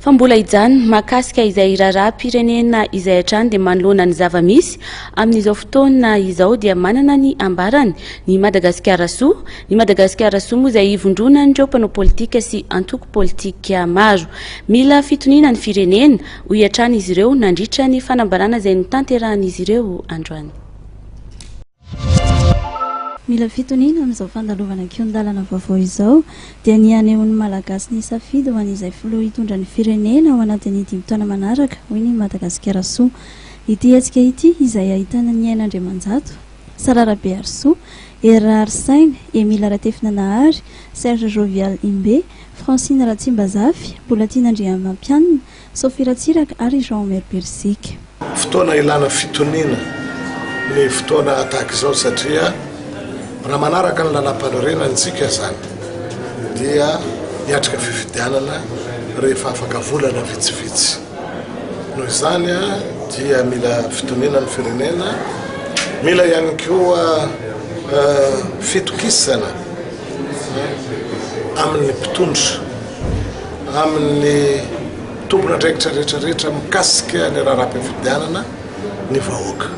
Fa mbola hijanona, mahakasika izay hiraharaham-pirenena izay hatrany dia manoloana ny zava-misy amin'izao fotoana izao dia manana ny ambarany ny Madagasikara Soa, ny Madagasikara Soa moa izay ivondronan'ireo mpanao politika sy antoko politika maro. Mila fitoniana ny firenena, hoy hatrany izy ireo nandritra ny fanambarana izay notanterahan'izy ireo androany. Mila fitoniana amin'izao fandalovana kihon-dalana vaovao izao dia ny hanehoan'ny Malagasy ny safidy ho an'izay filoha hitondra ny firenena ao anatin'ny dimy taona manaraka, hoy ny Madagasikarasoa. Ity hetsika ity, izay ahitana ny Aina Andriamanjato, Sarah Rabeharisoa, Hery Raharisaina, Emile Ratefinanahary, Serge Jovial Imbe, Francine Ratsimbazafy, Bolatiana Andriamampianina, Sophie Ratsiraka ary Jean Omer Birsika. Fotoana ilana fitoniana ny fotoana tahaka izao satria raha manaraka ny lalam-panorenana isika izany dia hiatrika fifidianana rehefa afaka volana vitsivitsy. Noho izany dia mila fitoniana ny firenena, mila ihany koa fitokisana amin'ny mpitondra. amin'ny tompon'andraikitra rehetrarehetra mikasika ny raharaham-pifidianana ny vahoaka.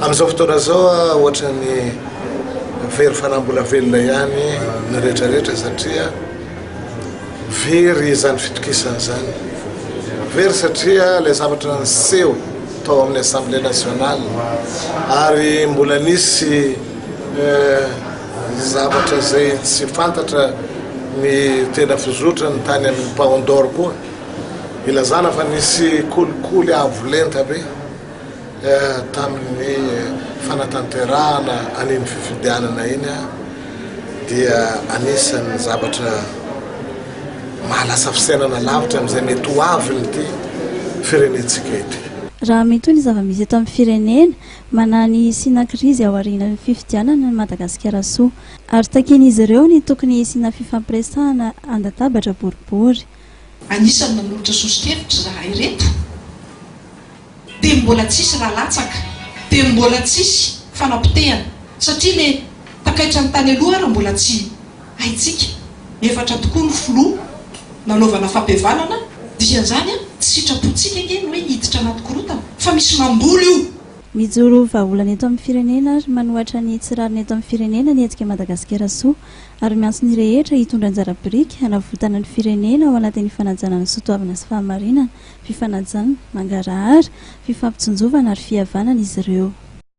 Amin'izao fotoana izao ohatra ny very fanambola velona ihany ny rehetrarehetra satria very izany fitokisana izany. Very satria ilay zavatra niseho tao amin'ny Assemblée nationale ary mbola nisy eh, Zavatra izay tsy fantatra ny tena fizotrany tany amin'ny Paon d'Or koa, ilazana fa nisy kolikoly avo lenta be tamin'ny fanatanterahana an'iny fifidianana iny dia anisan'ny zavatra maha lasa fisainana lavitra amin'izay mety ho avin'ity firenentsika ity. Raha mitohy ny zava-misy eto amin'ny firenena, Manahy ny hisiana krizy ao aorianan'ny fifidianana ny Madagasikara Soa. Ary takian'izy ireo ny tokony hisiana fifampiresahana an-databatra boribory. Anisan'ny nanolotra soso-kevitra izahay ireto. Teo mbola tsisy ra latsaka, teo mbola tsisy fanapotehana satria le takaitra ny tany aloha ara mbola tsy. Haintsika, efatra tokoa ny filoha nanaovana fampihavanana, dikan'izany an, tsy sitrapontsika ange ny hoe hiditra anaty korontana, fa misy mamboly io. Mijoro vahaolana eto amin'ny firenena ary manohatra ny tsy rariny eto amin'ny firenena ny hetsika Madagasikara Soa ary miantso ny rehetra hitondra anjara biriky hanavotana ny firenena ao anatin'ny fanajana ny soatoavina sy fahamarinana, fifanajan, mangarahara, fifampitsinjovana ary fihavanana izy ireo.